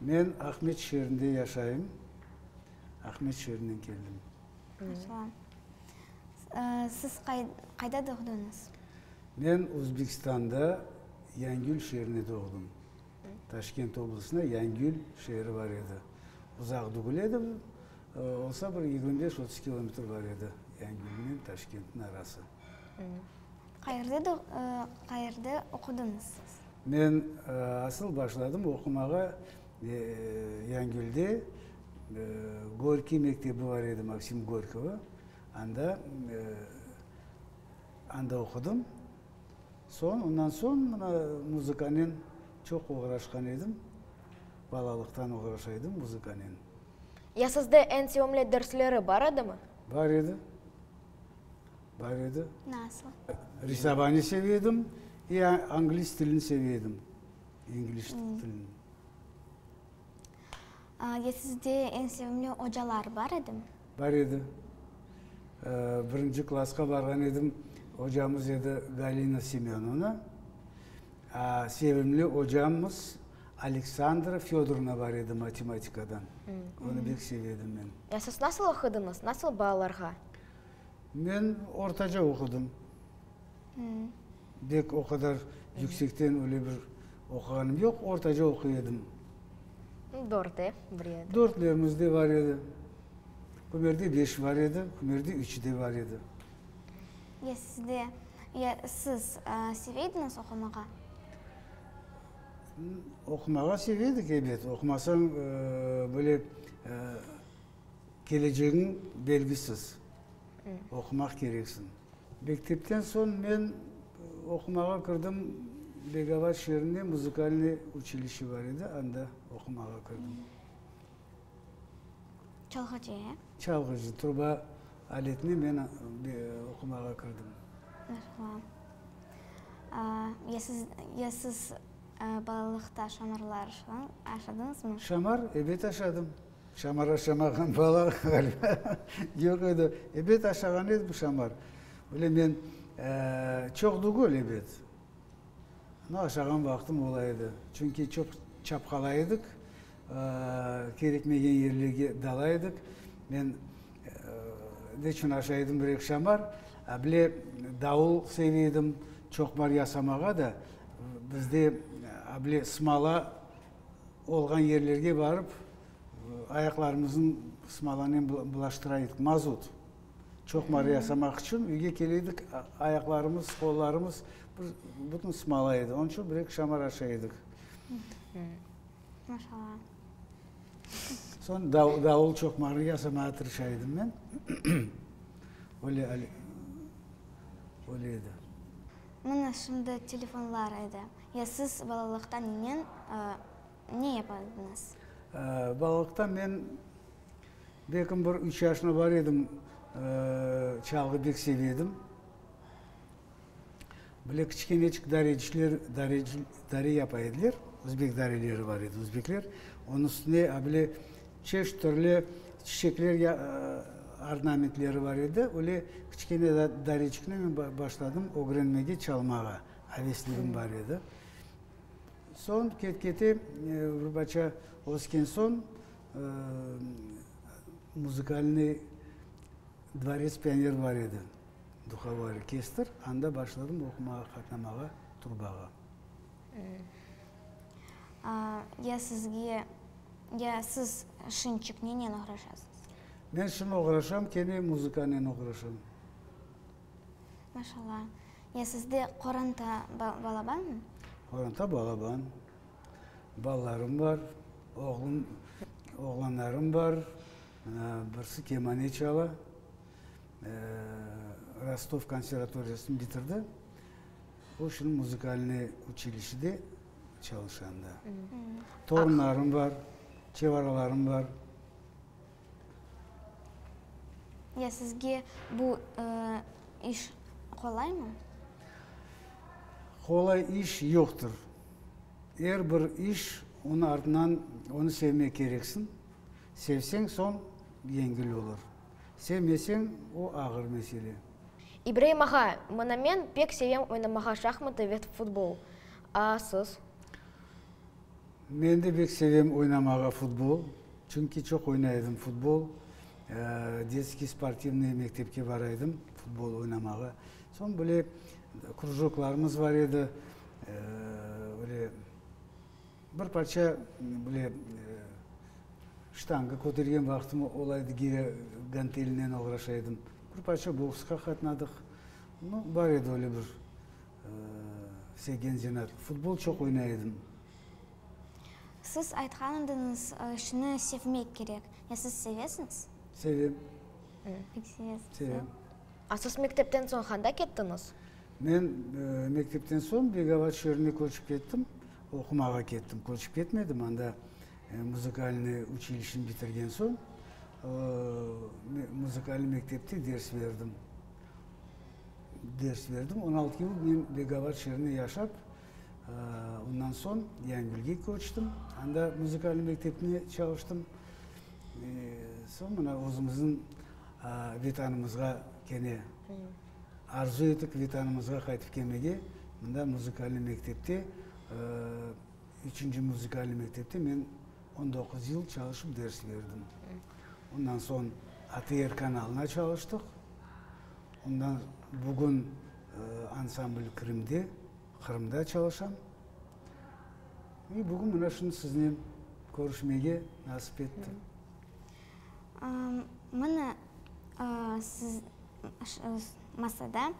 Men Ahmet şeerinde yaşayım. Ahmet şeerinden keldim. Salam. Siz qayda doğdunız? Men Özbekistanda Yangül şeerinde doğdım. Taşkent oblastında Yangül şeeri bar edi. Uzaq degil edi, olsa bir yigirmi beş, otuz kilometr bar edi Yangülnen Taşkentniñ arası. Qayerde oqudıñız siz? Men asıl başladım oqumağa Yangülde, Gorkiy mektebi bar edi, Maksim Gorkiyni, anda, anda oqudım. Soñ, ondan soñ mına muzıkanen çoq oğraşqan edim. Balalıqtan oğraşa edim muzıkanen. Ya sizde eñ sevimli dersleri bar edimi? Bar edi. Bar edi. Nasıl? Risabani sev edim, i anglis tilini sev edim, İngiliz tilini. Ya sizde eñ sevimli ocalar bar edimi? Bar edi. Birinci klasqa barğan edim, ocamız edi Galina Semönovna. Sevimli ocamız Aleksandra Fedorna bar edi matematikadan. Onı bek sev edim men. Ya siz nasıl oqudıñız? Nasıl balalarğa? Men ortaca oqudım. Bek o qadar yüksekten öyle bir oquğanım yoq, ortaca oquy edim. Dörtte bir edi. Dörtlerimiz de bar edi. Kimlerde beş bar edi, kimlerde üç de bar edi. Ya sizde, ya siz seve ediñiz oqumağa? Oqumağa seve edik, ebet. Oqumasañ, böyle, Kelecegiñ belgisiz. Oqumaq kereksiñ. Mektepten soñ men oqumağa kirdim, Begavat şeerinde muzikalnıy uçilişe bar edi, anda oqumağa kirdim. Çalğıcı, e? Çalğıcı, truba aletine men oqumağa kirdim. Merhaba. Ya siz, ya siz balalıqta Şamarlar aşadıñızmı? Şamar, ebet, aşadım. Şamar aşamağan bala ğaliba yoq edi. Ebet aşağan edi bu şamar. Böyle men çoq degil, ebet, amma aşağan vaqtım ola edi. Çünki çoq çapqalay edik, kerekmegen yerlerge dala edik. Men ne içün aşa edim bir eki şamar, a bir de davul seve edim, çoqmar yasamağa da. Bizde a bile smala Olğan yerlerge barıp, ayaqlarımıznı smolanen bulaştıra edik, mazut. Çoqmar yasamaq içün üyge kele edik, ayaqlarımız, qollarımız bir bütün smola edi. Onıñ içün bir-eki şamar aşa edik. Maşallah. Soñ davul çoqmarnı yasamağa tırışa edim men. Öyle öyle edi. Mına şimdi telefonlar edi. Ya siz balalıqta nenen, ne yapardıñız? Balalıqta men belkim bir üç yaşına bar edim, çalğı bek seve edim. Böyle kiçikeneçik darecikler, dare yapa ediler, özbek dareleri bar edi, özbekler. Onıñ üstüne a böyle çeşit türlü çiçekler ornamentleri bar edi. Öyle kiçikene dareciknen men başladım ögrenmege çalmağa. Avesligim bar edi. Soñ ket-kete Vrbaça ösken soñ Muzikalnıy dvorets pioner bar edi, duhovoi orkestr, anda başladım oqumağa, qatnamağa trubağa. Ya sizge, ya siz şınçık nenen oğraşasız? Men şın oğraşam, kene muzıkanen oğraşam. Maşalla. Ya sizde qoranta, balabanmı? Qoranta, balaban. Balalarım bar, oğlum, oğlanlarım bar. Birisi kemane çala. Rostov konservatoriyasını bitirdi. O şimdi muzikalnıy uçilişede çalışanda. Torunlarım bar, çevaralarım bar. Ya sizge bu iş qolaymı? Qolay iş yoqtır. Er bir iş onı artınan onı sevmek kereksiñ. Sevseñ soñ yengil olur. Sevmeseñ o ağır mesele. İbraim ağa, mına men pek sevem oynamağa şahmatı ve futbol. A siz? Men de bek sevem oynamağa futbol. Çünki çoq oynay edim futbol. Detskiy sportivnıy mektepke baraydım futbol oynamağa. Soñ böyle krujoklarımız bar edi. Böyle bir parça böyle ştanga kötergen vaqtım olaydı, gire gantelinen oğraşaydım. Bir parça boksqa qatnadıq. Bar edi öyle bir. Sevgen Zenar, Futbol çoq oynay edim. Siz aytqan ediñiz, şunı sevmek kerek. Ya siz sevesiñiz? Sevem. Pek sevesiñiz. Sevem. A siz mektepten soñ qanda kettiñiz? Men mektepten soñ Begavaç şeerine köçip kettim. Oqumağa kettim, köçip ketmedim. Anda muzıkalnıy uçilişeni bitirgen soñ, muzıkalnıy mektepte ders berdim. Ders berdim. On altı yıl men Begavat şeerinde yaşap, ondan soñ Yanbilge köçtim. Anda muzikalnıy mektepte çalıştım. Soñ mına özümizniñ Vetanımızğa kene arzu ettik Vetanımızğa qaytıp kelmege. Mında muzikalnıy mektepte, üçünci muzikalnıy mektepte men On doquz yıl çalışıp ders berdim. Ondan soñ ATR kanalına çalıştıq. Ondan bugün ansambl Krım'de, Qırımda çalışam. Ve bugün mına şunı siznen körüşmege nasip etti. Mına siz masada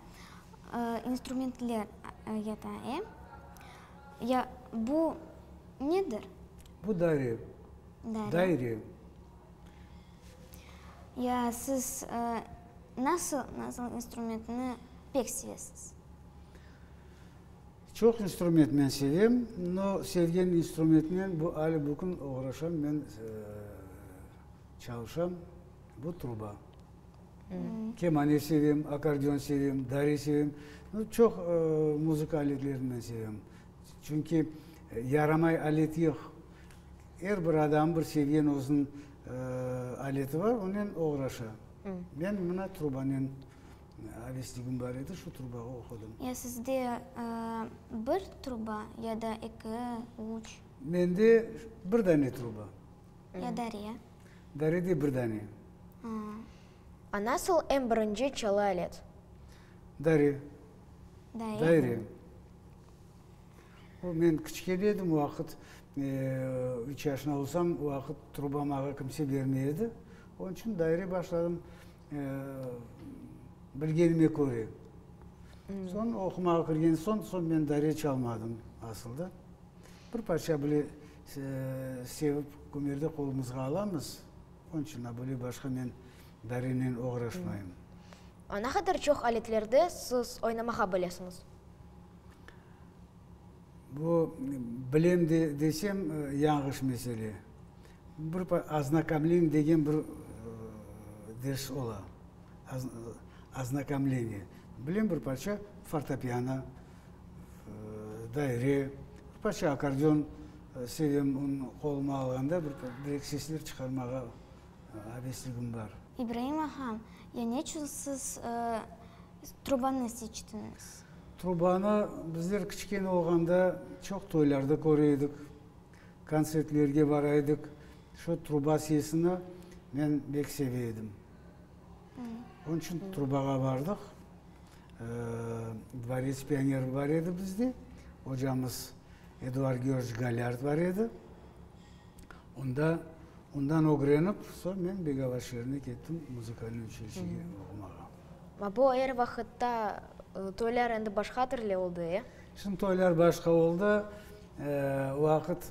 instrumentler yata, e? Ya bu nedir? Bu daire. Daire. Ya siz nasıl, nasıl instrumentni pek sevesiz? Çoq instrumentnen sevem, no sevgen instrumentnen bu ali bugün oğraşam, men çalışam, bu truba. Kemane sevem, akardion sevem, dare sevem. Çoq muzıka aletlerinden sevem. Çünki yaramay alet yoq. Er bir adam bir sevgen özüniñ aleti bar, onen oğraşa. Men mına trubanen avesligim bar edi, şu trubağa oqudım. Ya sizde bir truba ya da eki, üç? Mende bir dane truba. Ya dare? Daredi bir dane. A. Nasıl em birinci çalı alet? Dare. Daire. Daire. O, men kiçkene edim o vaqıt, üç yaşına olsam, o vaqıt truba mağa kimse bermey edi. Onıñ içün daire başladım bilgenime köre. Soñ oqumağa kirgen soñ, soñ men daire çalmadım asılda. Bir parça bile. Sevip kümerde qolumızğa alamız, onıñ içün abule başqa men darenen oğraşmayım. Ne qadar çoq aletlerde siz oynamağa bilesiñiz? Bu, bilem desem, yanğış mesele. Bir oznakomleniye degen bir ders ola, oznakomleniye. Bilem bir parça fortopiano, daire, ruspaçe akkordeon sevem, onı qoluma alğanda bir direk sesler çıqarmağa abesligim bar. İbraim ağa, ya neçün siz trubanı seçtiñiz? Trubanı bizler kiçkene olğanda çoq toylarda köre edik, kontsertlerge bara edik. Şu truba sesini men bek seve edim. Onıñ içün trubağa bardıq. Dvorets pionerı bar edi bizde, ocamız Eduard Georgiç Galyard bar edi. Onda, ondan ögrenip, soñ men Begava şeerine kettim muzikalnıy uçilişege oqumağa. Ma bu er vaqıtta toylar endi başqa türlü oldı, e? Şimdi toylar başqa oldı. O vaqıt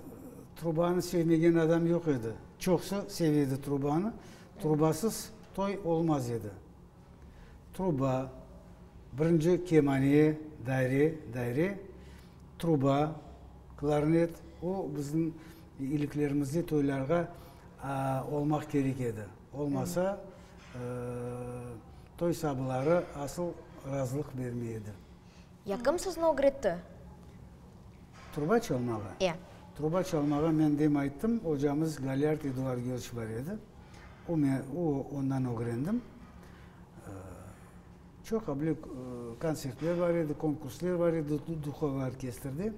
trubanı sevmegen adam yoq edi. Çoqsı sev edi trubanı. Trubasız toy olmaz edi. Truba, birinci kemane, daire, daire, truba, klarnet, o bizim iliklerimizde toylarğa olmaq kerek edi. Olmasa, toy sabıları asıl razılıq bermey edi. Ya kim sizni ögretti? Truba çalmağa? Ya. Truba çalmağa men dem ayttım, ocamız Galyard Eduargioç bar edi. O me, o, ondan ögrendim. Çoq abile kontsertler bar edi, konkursler bar edi Duhovo orkestrde.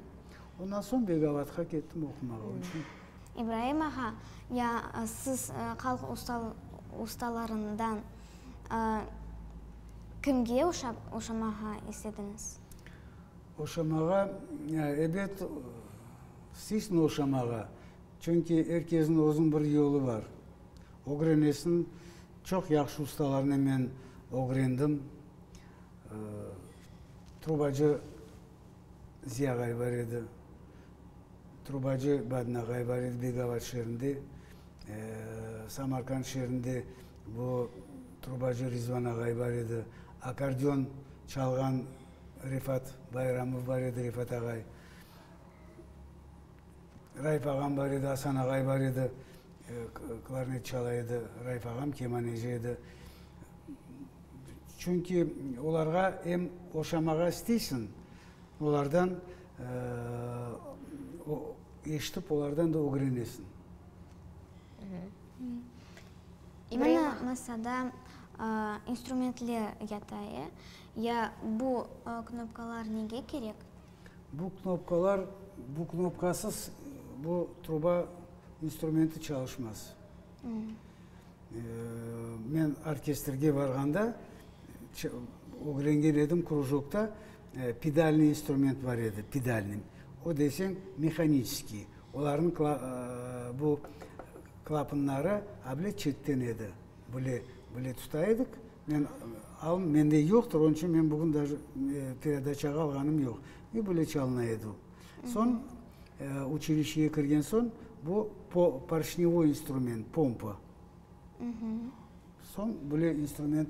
Ondan soñ Begalatqa kettim oqumağa. Onıñ içün İbraim ağa, ya siz halq ustalarından kimge oşamağa istediñiz? Oşamağa, ebet, sizni oşamağa, çünki er kesniñ özüniñ bir yolu bar. Ögrenesin, çoq yahşı ustalarnı men ögrendim. Trubacı Ziya ağay bar edi, Trubacı Badna Gaybarid Begavat şeerinde, Samarkand şeerinde bu trubacı Rizvana Gaybar edi, akardion çalğan Refat Bayramov bar edi, Refat ağay, Raif ağam bar edi, Asan ağay bar edi, klarnet çala edi, Raif ağam kemaneci edi. Çünki olarğa em oşamağa isteysiñ, Olardan eşitip, olardan da ögrenesiñ. Mına masada instrumentler yata, e? Ya bu knopkalar nege kerek? Bu knopkalar, bu knopkasız bu truba instrumenti çalışmaz. Men orkestrge barğanda, ögrengen edim, krujokta pedalnıy instrument bar edi, pedalnıy, o deseñ mehaniçeskiy, olarnıñ bu klapanları a bile çetten edi, böyle, böyle tuta edik, men aldım, mende yoqtır, onıñ içün men bugün daje peredaçağa alğanım yoq, i böyle çalına edi o. Soñ, uçilişeye kirgen soñ, bu porşnyovoy instrument, pompa. Soñ böyle instrument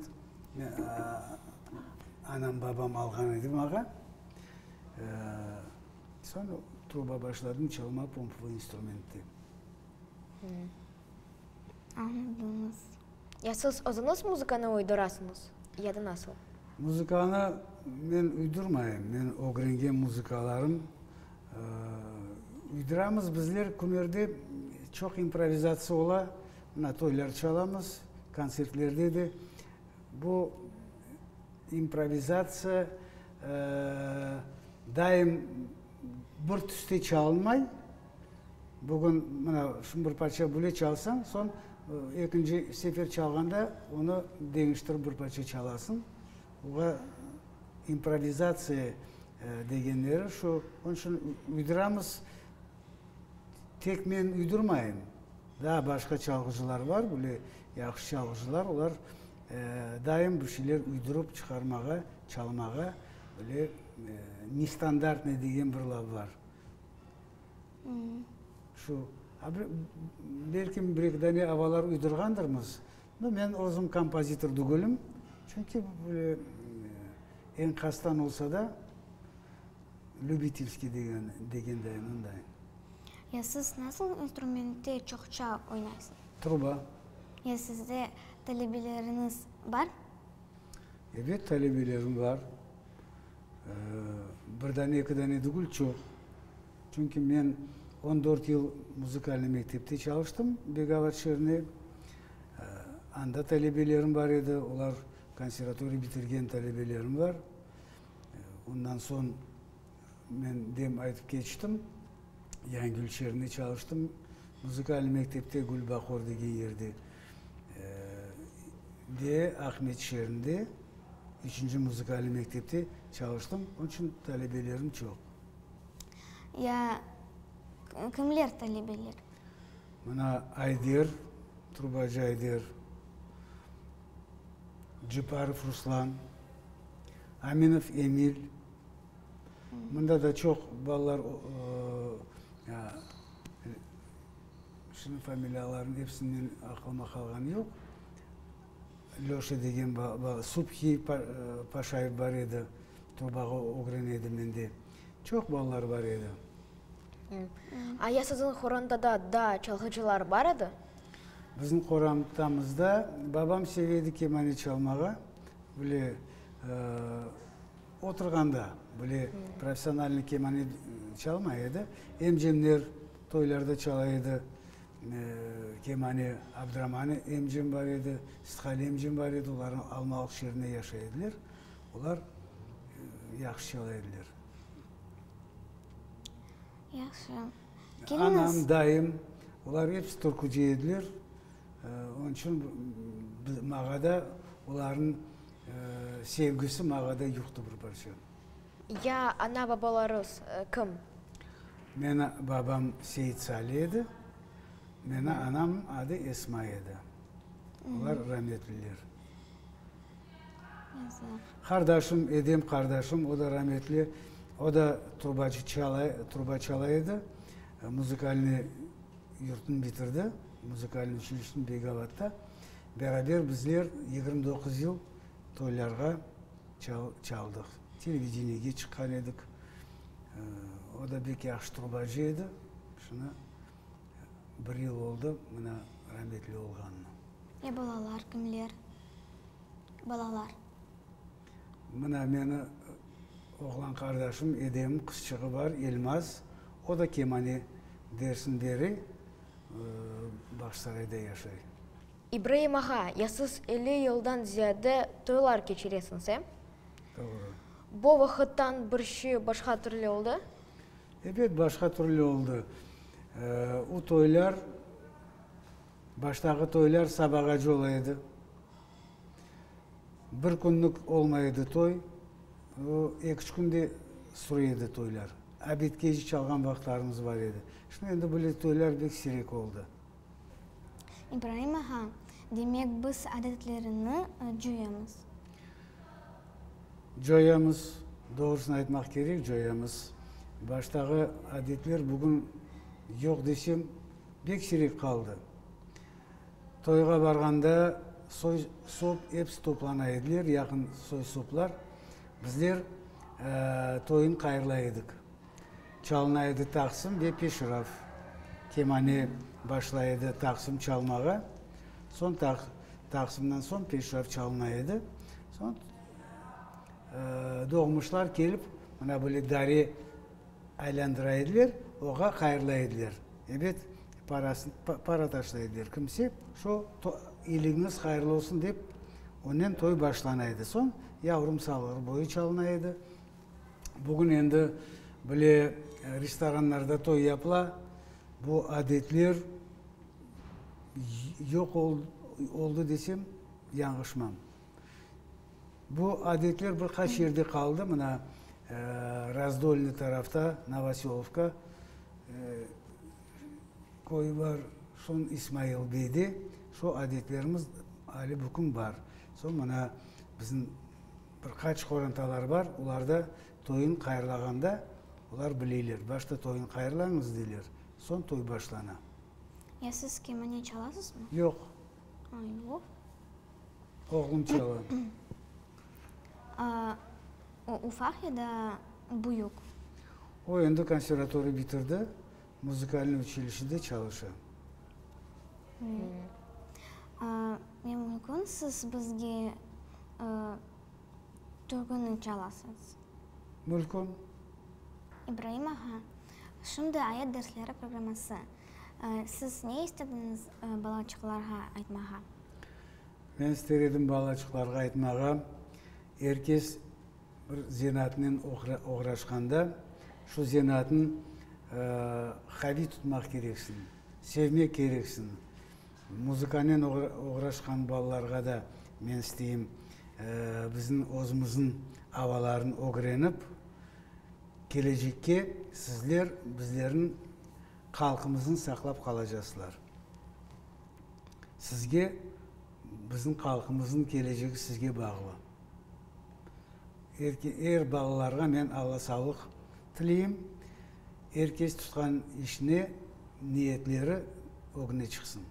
anam, babam alğan edi maña. Soñ truba başladım çalma pompvoy instrumentti. Añladınız. Ya siz özüniz muzıkanı uydurasıñız, ya da nasıl? Muzıkanı men uydurmayım. Men ögrengen muzıkalarım. Uyduramız bizler Kümerde çoq improvizatsiya ola. Mına toylar çalamız, kontsertlerde de. Bu improvizatsiya daim bir tüste çalınmay. Bugün mına şu bir parça bile çalsañ, soñ ekinci sefer çalğanda onı deñiştirip bir parça çalasıñ. Oña improvizatsiya degenleri şu. Onıñ içün uydıramız. Tek men uydurmayım, daa başqa çalğıcılar bar, böyle yahşı çalğıcılar, olar daim bir şeyler uydurıp çıqarmağa, çalmağa böyle nestandartnıy degen bir laf bar. Şu, belki bir-eki dane avalar uydurğandırmız, no men özüm kompozitor degülim, çünki böyle enkazdan olsa da, lübitilskiy degen de mınday. Ya siz nasıl instrumentte çoqça oynaysız? Truba. Ya sizde talebeleriniz bar? Ebet, talebelerim bar. Bir dane, eki dane degil, çoq. Çünki men on dört yıl muzikalnıy mektepte çalıştım, Begavat şeerinde. Anda talebelerim bar edi, olar konservatoriya bitirgen talebelerim bar. Ondan soñ men dem aytıp keçtim, Yangül şeerinde çalıştım, muzikalnıy mektepte, Gülbahor degen yerde. Ve Ahmet şeerinde üçünci muzıkalniy mektepte çalıştım, onıñ içün talebelerim çoq. Ya, kimler talebeler? Mına, Ayder, trubacı Ayder, Ceparov Ruslan, Aminov Emil. Mında da çoq balalar Şimdi familiyalarnıñ episinden aqlıma qalğanı yoq. Lyoşa degen Subhi Paşayev bar edi, Trubağa ögren edi mende. Çoq balalar bar edi. Aya siziñ qorantada da çalğıcılar bar edi? Biziñ qorantamızda babam sev edi kemane çalmağa, böyle oturğanda, böyle professionalnıy kemane çalmay edi. Emcemler Toylarda çala edi, kemane Abdraman emcem bar edi, Sitqali emcem bar edi, olarnı Almalıq şeerinde yaşay ediler, olar yahşı çala ediler. Yahşı. Anam, dayım, olar episi turkuci ediler, onıñ içün mağa da olarnıñ sevgisi mağa da yuqtı bir parça. Ya ana-babalarıs kim? Meni babam Seit Sali edi, meni anam adı Esma edi. Olar rametliler. Qardaşım, Edem qardaşım, o da rametli, o da trubacı çala, truba çala edi. Muzikalnıy yurtnı bitirdi, muzikalnıy uçilişteni Beygabatta. Beraber bizler yigirmi doquz yıl Toylarğa çaldıq, televideniyege çıqqan edik. O da bek yahşı trubacı edi. Şunı bir yıl oldı mına rametli olğanına. E balalar kimler? Balalar? Mına meni oğlan qardaşım, edem, qızçığı bar, Elmaz. O da kemane dersin beri Bağçsarayda yaşay. İbraim ağa, ya siz elli yıldan ziyade toylar keçiresiñiz, e? Doğru. Bu vaqıttan bir şi başqa türlü oldı? Ebet, başqa türlü oldı. O toylar, baştağı toylar sabağacı ola edi. Bir künlük olmay edi toy, o eki-üç kün de süre edi toylar. Abit keci çalğan vaqıtlarımız bar edi. Şimdi endi böyle toylar bek sirek oldı. İbraim ağa, demek, biz adetlerini coyamız? Coyamız, doğrusını aytmaq kerek, coyamız. Baştağı adetler bugün yoq desem, pek siyrek qaldı. Toyğa barğanda soy-sop episi toplana ediler, yaqın soy-soplar. Bizler toyun qayırlay edik. Çalına edi taqsım ve peşraf. Kemane başlay edi taqsım çalmağa, soñ taqsımdan soñ peşraf çalına edi. Soñ doğmuşlar kelip, mına böyle dare aylandıra ediler, oğa qayırla ediler. Ebet, para taşlay ediler kimse. Şu iliñiz qayırlı olsun dep, onen toy başlana edi. Soñ yavrum salğır boyu çalına edi. Bugün endi bile restoranlarda toy yapıla, bu adetler yoq oldı desem, yanğışmam. Bu adetler bir qaç yerde qaldı, mına, Razdolnıy tarafta, Novoselovka köyü bar, soñ İsmailbeyde şu adetlerimiz ali bugün bar. Soñ mına bizim, Bir qaç qorantalar bar, olarda toyuñ qayırlağanda olar bileyler, başta toyuñ qayırlañız deyler, soñ toy başlana. Ya siz kemane çalasızmı? Yoq. Ay, uf. Oğlum çala. O ufaq ya da büyük? O endi konservatoriya bitirdi, muzikalnıy uçilişede çalışa. Hı. Ne mümkün siz bizge türküni çalasız? Mümkün. İbraim ağa, şimdi ayet dersleri programması. Siz ne istediñiz balaçıqlarğa aytmağa? Men ister edim balaçıqlarğa aytmağa, er kes bir zenaatnen oğraşqanda, şu zenaatnı qaviy tutmaq kereksin, sevmek kereksin. Muzıkanen oğraşqan balalarğa da men isteyim, bizim özümüzün avaların ögrenip, kelecekke sizler bizlerniñ qalqımızın saqlap qalacasılar. Sizge, bizim qalqımızın kelecegi sizge bağlı. Er balalarğa men Alla sağlıq tileyim. Er kes tutqan işine niyetleri ögüne çıqsın.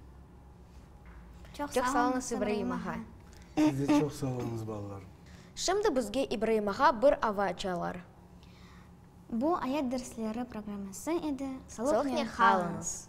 Çoq sağ olunız İbraim ağa. Siz de çoq sağ olunız balalar. Şimdi bizge İbraim ağa bir ava açalar. Bu ayat dersleri programması edi. Salıqnen qalınız.